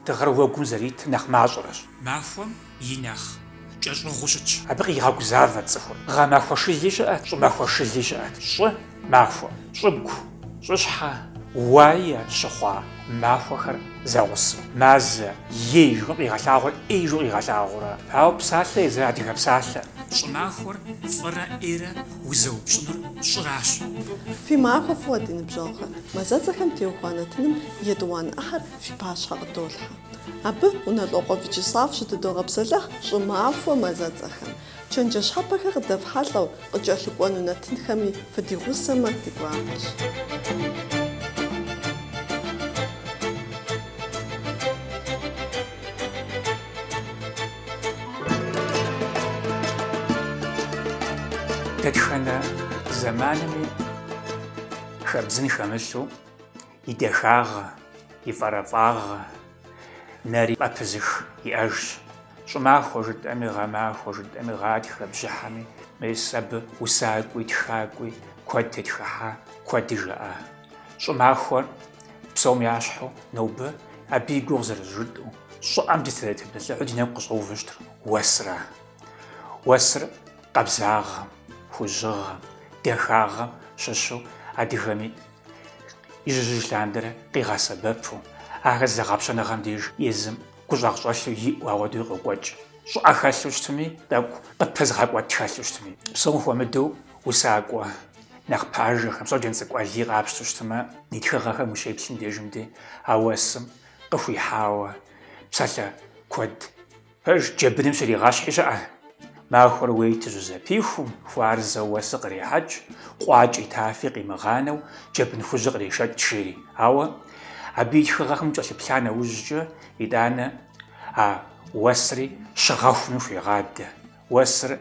Дыгъэр уэгум зэритыр нэхъ мащӏэрэщ. Махуэм и нэхъ кӏэщӏыгъуу щытщ. Абы къигъэгузавэт цӏыхур. Гъэмахуэ шыли щыӏэт, щӏымахуэ шыли щыӏэт. Щӏы махуэ, щӏыгу, щӏыщхьэ, уае щыхъуа махуэхэр зэгъусэу. Мазэ, е ижу къигъэлъагъуэр ӏе ижу къигъэлъагъуэурэ. Ауэ псалъэ езыр адыгэ псалъэ. Щӏымахуэр фӏырэ ӏейрэ узэупщӏынур щӏыращ. Фи махуэ фӏыуэ, ди ныбжьэгъухэ! Мазэцӏэхэм теухуа нэтыным етӏуанэ ӏыхьэр Фи пащхьэ къыдолъхьэ. Абы Унэлӏокъуэ Вячеслав щытыдогъэпсэлъыхь щӏымахуэ мазэцӏэхэм. Чэнджэщ щхьэпэхэр къыдэфхьэлӏэу къыкӏэлъыкӏуэну нэтынхэми фыдигъусэмэ ди гуапэщ. Дэтхэнэ зэманми хэбдзын хэмылъу, и дахагъэ, и фӏэрэфӏагъэ, нэри пӏэпызых иӏэжщ, щӏымахуэ жытӏэми, гъэмахуэ жытӏэми, гъатхэ бжьыхьэми, мис абы усакӏуи, тхакӏуи куэд тетхыхьа, куэди жаӏа. Щӏымахуэр псом ящхьу нобэ абы и гугъу зэрызжытӏэу, щӏыӏэм дытре дытепсэлъыхьу ди нэгу къыщӏэувэу щытыр уэсра. Уэсыр къабзагъэм, хужьыгъэм, дахагъэм щыщу адыгэми Ижьыжь лъандэрэ къигъэсэбэпу, ахэр зэгъэпщэныгъэм деж езым гущӏагъщӏэлъу иӏэу ауэдэуи къокӏуэкӏ. Щӏыӏэ хэлъу щытми, тӏэкӏу къыпызыгъэкӏуэт хэлъу щытми. Псом хуэмыдэу усакӏуэ нэхъ пажэхэм, Щоджэнцӏыкӏу Алий къапщту щытмэ, и тхыгъэхэм ущеплъым дежым ди а уэсым къыхуихьауэ псалъэ куэд Пэж джэбыным щригъэщхьи щыӏэ. Махуэр уейти щӏызэпихум, хуарзэу уэсыр кърехьэкӏ, къуакӏи тафи къимыгъанэу, джэбын хужьыр кърешэкӏ, жери. Ауэ абы и тхыгъэхэм кӏэлъыплъа нэужькӏэ, итӏанэ а уэсри щыгъэхуми хуегъадэ, уэсыр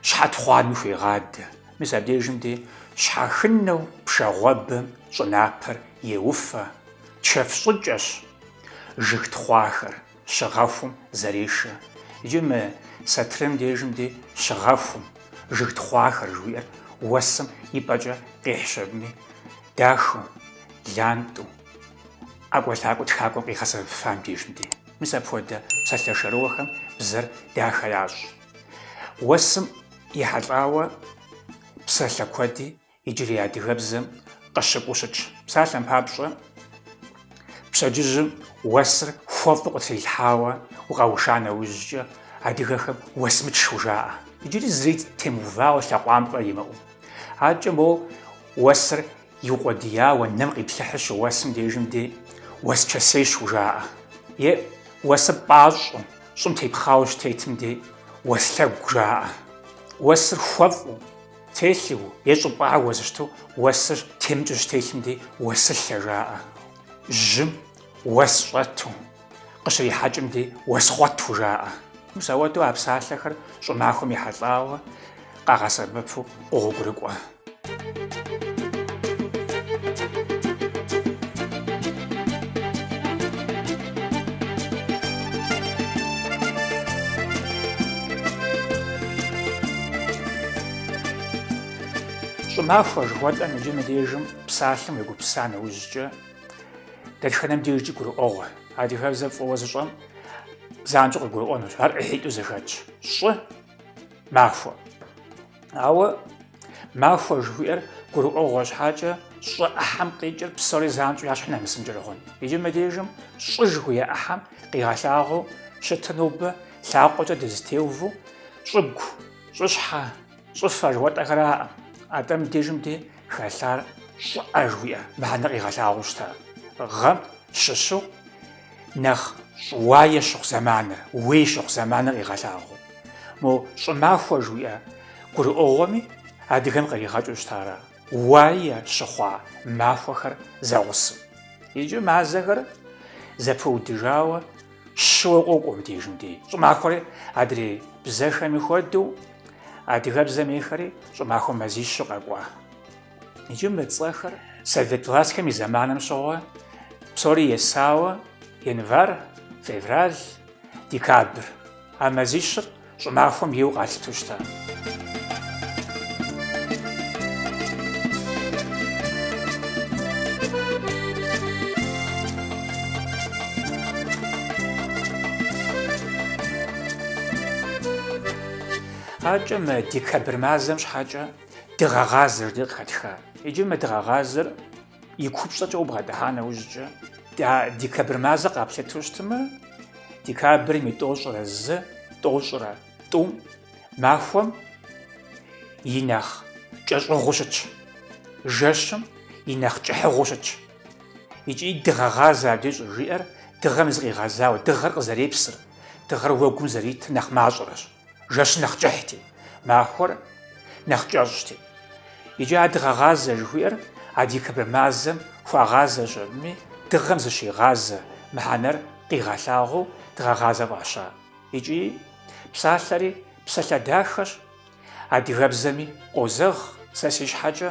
щхьэтхъуами хуегъадэ. Мис абдежым де щхьэхынэу пшагъуэбэм щӏынапэр еуфэ, чэф щӏыкӏэщ жыг тхъуахэр. Щыгъэхум, зэрешэ. Иджы мы сатырым дежым ди щыгъэхум, жыг тхъуахэр жыхуиӏэр уэсым и пӏэкӏэ къихьщ абыми, дахэу, лантӏу, ӏэкӏуэлъакӏуэу тхакӏуэм къигъэсэбэпыфам дежым ди. Мис апхуэдэ псалъэ шэрыуэхэм бзэр дахэ ящӏ. Уэсым ехьэлӏауэ псалъэ куэди Иджырей адыгэбзэм къыщыкӏуэу щытщ. Псалъэм папщӏэ, пщэдджыжьым уэсыр хуэфӏу къытрилъхьауэ укъэуша нэужькӏэ, адыгэхэм уэсмычщ жаӏэ. Иджыри зыри темыувауэ лъэкъуампӏэ имыӏэу. Аркӏэ моуэ уэсыр иукъуэдияуэ нэм къиплъыхьыр щыуэсым дежым де уэсчэсейщ жаӏэ. Е уэсыр пӏащӏэу, щӏым тепхъауэ щытетым де уэслъэгу жаӏэ. Уэсыр хуэфӏу. Телъу е щӏыпӏэр уэсу щыту уэсыр темыкӏыу щытелъым дей уэсылъэ жаӏэ. Жьым уэс щӏэту, къыщрихьэкӏым дей уэсхъуэту жаӏэ. Мис ауэдэу а псалъэхэр щӏымахуэм ехьэлӏауэ къагъэсэбэпу къогъуэгурыкӏуэ. Щӏымахуэ жыхуэтӏэм иджы мыбдежым псалъэм уегупса нэужькӏэ, дэтхэнэм дежкӏи гурыӏуэгъуэ. Адыгэбзэр фӏыуэ зыщӏэм занщӏэу къыгурыӏуэнущ, ар ӏыхьитӏу зэхэтщ. Щӏы махуэ. Ауэ махуэ жыхуиӏэр гурыӏуэгъуэ щхьэкӏэ щӏы ӏыхьэм къикӏыр псори занщӏэу я щхьэ нэмысынкӏэри хъун. Иджы мы дежым щӏы жыхуиӏэ ӏыхьэм къигъэлъагъуэу щытыр нобэ лъакъуэкӏэ дызытеувэ щӏыгу, щӏыщхьэ, щӏыфэ жыхуэтӏэхэраӏэ. Атӏэ мы дежым де хэлъар щӏыӏэ жыхуиӏэ мыхьэнэ къигъэлъагъуэу щыта. Гъэм щыщу Нэхъ щӏыуае щыхъу зэманыр, уей щыхъу зэманыр къигъэлъагъуэу. Мо щӏымахуэ жыхуиӏэ гурыӏуэгъуэми адыгэм къригъэкӏыу щытар ара. Уае щыхъуа махуэхэр зэгъусэу. Иджы мазэхэр зэпыудыжауэ щыуэ къокӏуэ мыбдежым дей. Щӏымахуэри адрей бзэхэми хуэдэу адыгэбзэм ейхэри щӏымахуэ мазищу къэкӏуа. Иджы мы цӏэхэр совет властхэм и зэманым щыгъуэ псори есауэ январь, февраль, декабрь а мазищыр щӏымахуэм ейуэ къалъыту щыта. Аркӏэ мы декабрь мазэм щхьэкӏэ дыгъэгъазэр ди къыхэтха. Иджы мы дыгъэгъазэр и купщӏэкӏэ убгъэдыхьа нэужькӏэ, декабрь мазэ къаплъыту щытмэ, декабрым и тӏощӏрэ зы, тӏощӏрэ тӏум махуэм и нэхъ кӏэщӏыгъуу щытщ, жэщым и нэхъ кӏыхьыгъуу щытщ. Икӏи дыгъэгъазэ абдеж щӏыжиӏэр дыгъэм зыкъигъэзауэ, дыгъэр къызэрепсыр, дыгъэр уэгум зэритыр нэхъ мащӏэрэщ. Жэщ нэхъ кӏыхьти, махуэр нэхъ кӏэщӏти. Икӏи а дыгъэгъазэ жыхуиӏэр а декабрь мазэм хуагъазэщ абыми, дыгъэм зыщигъазэ мыхьэнэр къигъэлъагъуэу дыгъэгъазэ фӏаща. Икӏи псалъэри псалъэ дахэщ, адыгэбзэми къозэгъ, сэ си щхьэкӏэ.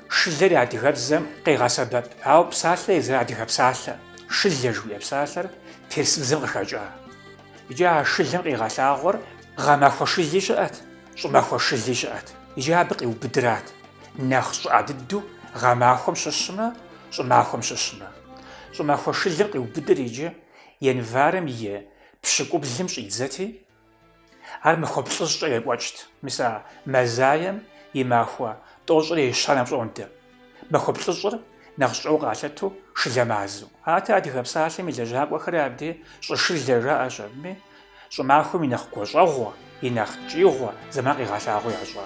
Шылэр адыгэбзэм къегъэсэбэп, ауэ псалъэ езыр адыгэ псалъэ. Шылэ жыхуиӏэ псалъэр персыбзэм къыхэкӏа. Иджы а шылэм къигъэлъагъуэр гъэмахуэ шыли щыӏэт, щӏымахуэ шыли щыӏэт. Иджы абы къиубыдырат нэхъ щӏыӏэ дыдэу гъэмахуэм щыщмэ, щӏымахуэм щыщмэ. Щӏымахуэ шылэм къиубыдыр иджы январым и пщыкӏублым щӏидзэти, Ар махуэ плӏыщӏкӏэ екӏуэкӏт, мис а мазаем и махуэ тӏощӏрэ ещанэм пщӏондэ. Махуэ плӏыщӏыр нэхъ щӏыӏэу къалъыту шылэ мазэу. Атӏэ, Адыгэ псалъэм и лэжьакӏуэхэри абдей щӏышылэ жаӏэщ абыми, щӏымахуэм и нэхъ гуащӏэгъуэ, и нэхъ ткӏиигъуэ зэман къигъэлъагъуэу ящӏа.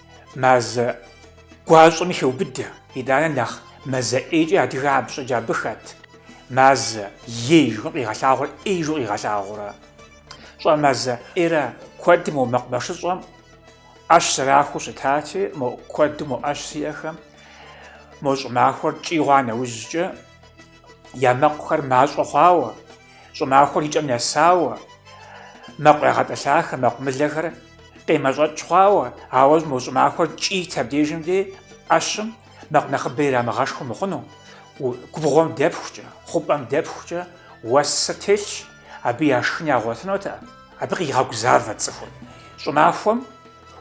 мазэ гуащӏэми хеубыдэ. Итӏанэ нэхъ мазэ ӏейкӏэ адыгэ абы щӏеджэр абы хэт? Мазае жыхуиӏэм къигъэлъагъуэр ӏей жыхуиӏэу къигъэлъагъуэрэ? Щӏэмазэ ӏейр куэдым мо мэкъумэшыщӏэм ӏэщ зэрахуэу щытати, мо куэду мо ӏэщ зиӏэхэм мо щӏымахуэр ткӏий хъуа нэужькӏэ я мэкъухэр мащӏэ хъуауэ, Щӏымахуэр и кӏэм нэсауэ, мэкъу ягъэтӏылъахэр, мэкъумылэхэр къемэщӏэкӏ хъуауэ, ауэ мо щӏымахуэр ткӏийт абдежым дей ӏэщым мэкъу нэхъыбэ ирамыгъэшхыу мыхъуну, губгъуэм дэпхукӏэ, хъупӏэм дэпхукӏэ уэсыр телъщ, абы я шхын ягъуэтынутэкъым, абы къигъэгузавэт цӏыхур щӏымахуэм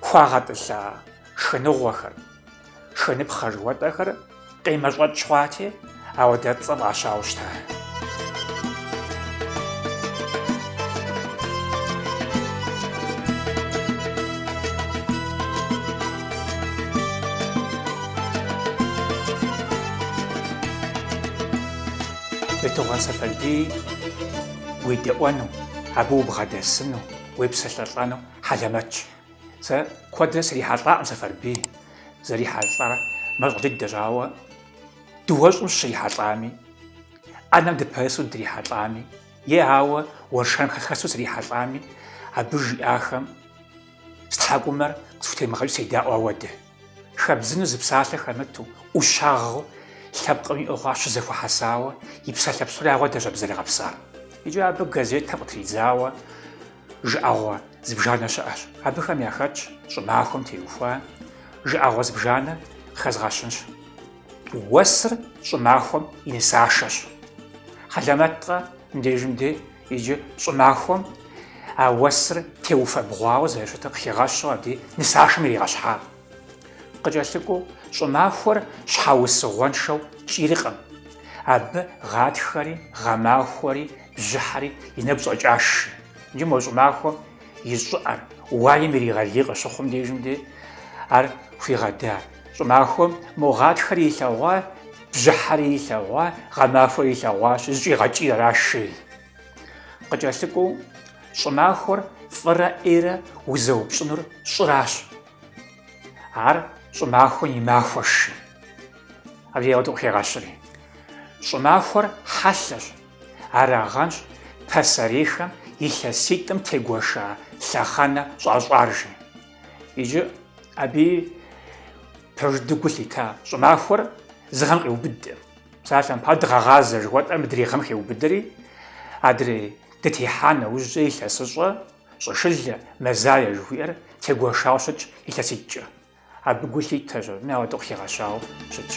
хуагъэтӏылъа шхыныгъуэхэр. Шхыныпхъэ жыхуэтӏэхэр къемэщӏэкӏ хъуати, ауэдэ цӏэ фӏащауэ щыта. Бейтыгъуэн Сэфарбий уедэӏуэну, абы убгъэдэсыну, уепсэлъэлӏэну хьэлэмэтщ. Сэ куэдрэ срихьэлӏакъым Сэфарбий, зэрихьэлӏар мащӏэ дыдэщ, ауэ дыуэщӏым сыщрихьэлӏами, ӏэнэм дыпэсу дрихьэлӏами, е ауэ уэршэрым хэсу срихьэлӏами, абы жиӏахэм си тхьэкӏумэр къысхутемыгъэкӏыу седаӏуэ ауэдэ. Хэбдзыну зы псалъэ хэмыту, ӏущагъыу, лъэпкъым иӏэу хъуар щызэхуэхьэсауэ, и псалъэ псор ауэдэщ абы зэригъэпсар. Иджы абы газетэм къытридзауэ жыӏэгъуэ зыбжанэ щыӏэщ. Абыхэм яхэтщ щӏымахуэм теухуа жыӏэгъуэ зыбжанэ къыхэзгъэщынщ. Уэсыр щӏымахуэм и нысашэщ. Хьэлэмэткъэ мыбдежым де Иджы щӏымахуэм а уэсыр теуфэбгъуауэ зэрыщытыр къыхигъэщу абы и нысашэм иригъэщхьа. Къыкӏэлъыкӏуэу щӏымахуэр щхьэусыгъуэншэу кӏийркъым, абы гъатхэри, гъэмахуэри, бжьыхьэри и нэгу щӏэкӏащ жи. Иджы мо щӏымахуэм и щӏыӏэр уаем иригъэлей къыщыхъум дежым дей ар хуигъэда. Щӏымахуэм мо гъатхэри илъэгъуа, Бжьыхьэри илъэгъуа, гъэмахуэри илъэгъуащ, зыщӏигъэкӏийр аращ жеӏэ. Къыкӏэлъыкӏуэу, щӏымахуэр фӏырэ ӏейрэ узэупщӏынур щӏыращ. Ар щӏымахуэм и махуэщ жи. Абы ауэдэу къыхегъэщри. Щӏымахуэр хьэлъэщ, арагъэнщ пасэрейхэм илъэситӏым тегуэша лъэхъэнэ щӏащӏар жи. Иджы аби пэж дыдэу гу лъита щӏымахуэр зы гъэм къиубыдэ. Псалъэм папщӏэ дыгъэгъазэ жыхуэтӏэр мыдрей гъэм хеубыдэри, адрей дытехьа нэужькӏэ илъэсыщӏэ, щӏышылэ, мэзае жыхуиӏэр тегуэшауэ щытщ илъэситӏкӏэ. Абы гу лъитэщ аби ауэдэу къыхигъэщауэ щытщ.